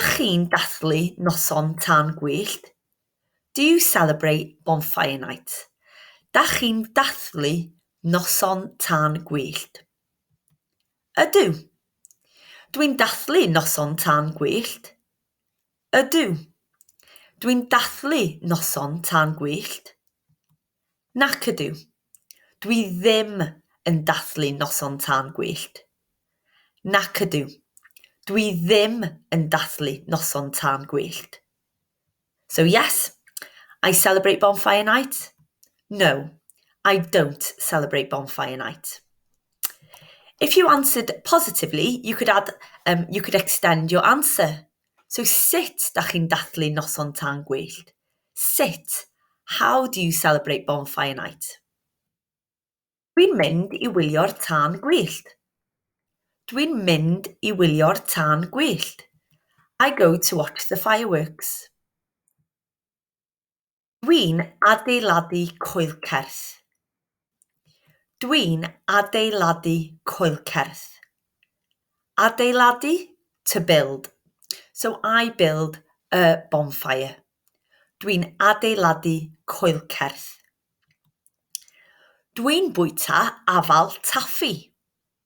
Ydych chi'n dathlu Noson Tân Gwyllt? Do you celebrate Bonfire Night? Ydych chi'n dathlu Noson Tân Gwyllt? Ydw. Dw i'n dathlu Noson Tân Gwyllt. Ydw. Dw i'n dathlu Noson Tân Gwyllt. Nac ydw. Dwi ddim yn dathlu Noson Tân Gwyllt. Nac ydw. Dwi ddim yn dathlu Noson Tân Gwyllt. So yes, I celebrate Bonfire Night. No, I don't celebrate Bonfire Night. If you answered positively, you could add, yym, you could extend your answer. So sut da chi'n dathlu noson tân gwyllt? Sut, how do you celebrate bonfire night? Dwi'n mynd i wylio'r tân gwyllt. Dwi'n mynd i wylio'r tân gwyllt. I go to watch the fireworks. Dwi'n adeiladu coelcerth. Dwi'n adeiladu coelcerth. Adeiladu, to build. So I build a bonfire. Dwi'n adeiladu coelcerth. Dwi'n bwyta afal taffi.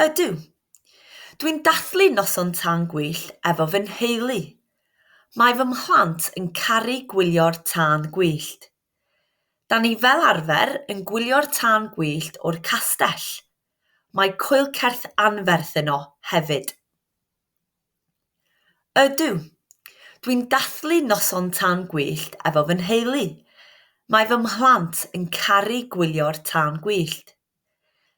Ydw. Dwi'n dathlu noson tân gwyllt efo fy nheulu. Mae fy mhlant yn caru gwylio'r tân gwyllt. Da ni fel arfer yn gwylio'r tân gwyllt o'r castell. Mae coelcerth anferth yno hefyd. Ydw. Dwi'n dathlu noson tân gwyllt efo fy nheulu. Mae fy mhlant yn caru gwylio'r tân gwyllt.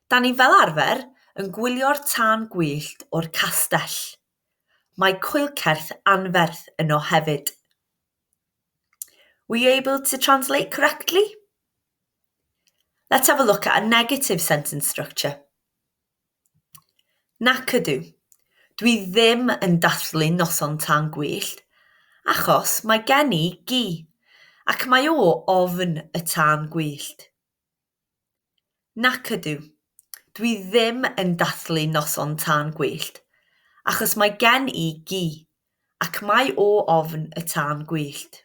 'Da ni fel arfer yn gwylio'r tân gwyllt o'r castell. Mae coelcerth anferth yno hefyd. Were you able to translate correctly? Let's have a look at a negative sentence structure. Nac ydw, dwi ddim yn dathlu Noson Tân Gwyllt achos mae gen i gi ac mae o ofn y tân gwyllt. Nac ydw, dwi ddim yn dathlu Noson Tân Gwyllt achos mae gen i gi ac mae o ofn y tân gwyllt.